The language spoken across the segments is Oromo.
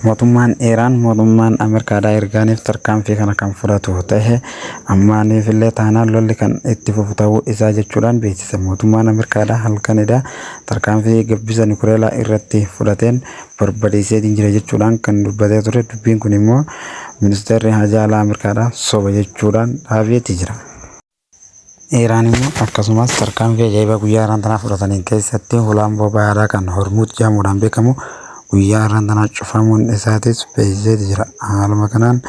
Mootummaan Iraan mootummaan Ameerikaadhaa ergaaniif tarkaanfii kana kan fudhatu tahe ammaaniif illee taanaan lolli kan itti fufu tahuu isaa jechuudhaan beeksise. Mootummaan Ameerikaadhaa halkan edaa tarkaanfii gabbisa nukileelaa irratti fudhateen barbadeesseetiin jira jechuudhaan kan dubbatee ture dubbiin kun immoo ministeerri haajaa alaa Ameerikaadhaa soba jechuudhaan dhaabeeti jira. Iraan immoo akkasumas tarkaanfii ajaa'ibaa guyyaa irraan tanaa fudhataniin keessatti hulaan boba'aa irraa kan Hormuuz jedhamuudhaan beekamu guyyaa irraan tanaa cufamuun isaatis beeksisee jira. Haaluma kanaan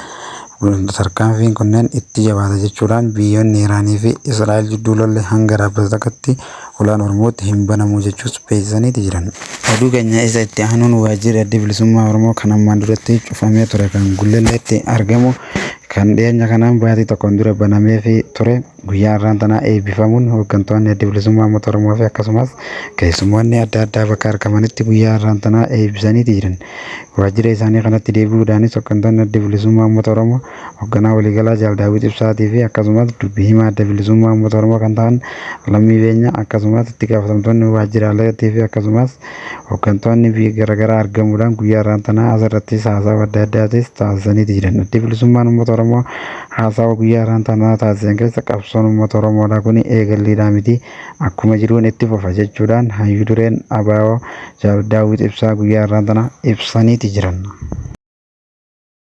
tarkaanfiin kunneen itti jabaata jechuudhaan biyyoonni Iraanii fi Israa'el jidduu lolli hanga dhaabbatu takkatti hulaan Hormuuz hin banamu jechuus beeksisaniiti jiran. Oduu keenya isa itti aanuun waajjirri adda bilisummaa Oromoo kan ammaan duratti cufamee ture kan Gullalleetti argamu Kan dhiyeenya kanaan baatii tokkoon dura banameefi ture guyyaa har'aan tanaa eebbifamuun hooggantoonni Adda Bilisummaa Uummata Oromoo fi akkasumas keessummoonni adda addaa bakka argamanitti guyyaa har'aan tanaa eebbisaniiti jiran. Waajjira isaanii kanatti deebi'uudhaanis hooggantoonni Adda Bilisummaa Uummata Oromoo hoogganaa waliigalaa Jaal Daawwit Ibsaatii fi akkasumas dubbi himaa Adda Bilisummaa Uummata Oromoo kan ta'an Lammii Beenyaa akkasumas itti gaafatamtoonni waajjiraaleetii fi akkasumas Hooggantoonni biyya garaagaraa argamuudhaan guyyaa irraan tanaa asirrattis haasawa adda addaatis taasisaniiti jiran. Addi bilisummaan uummata Oromoo haasawa guyyaa irraan tanaa taasisan keessa qabsoon uummata Oromoodhaa kun eegalliidhaa miti akkuma jiruun itti fufa jechuudhaan hayyu dureen ABO Jaal Daawwit Ibsaa guyyaa irraan tanaa ibsaniiti jiran.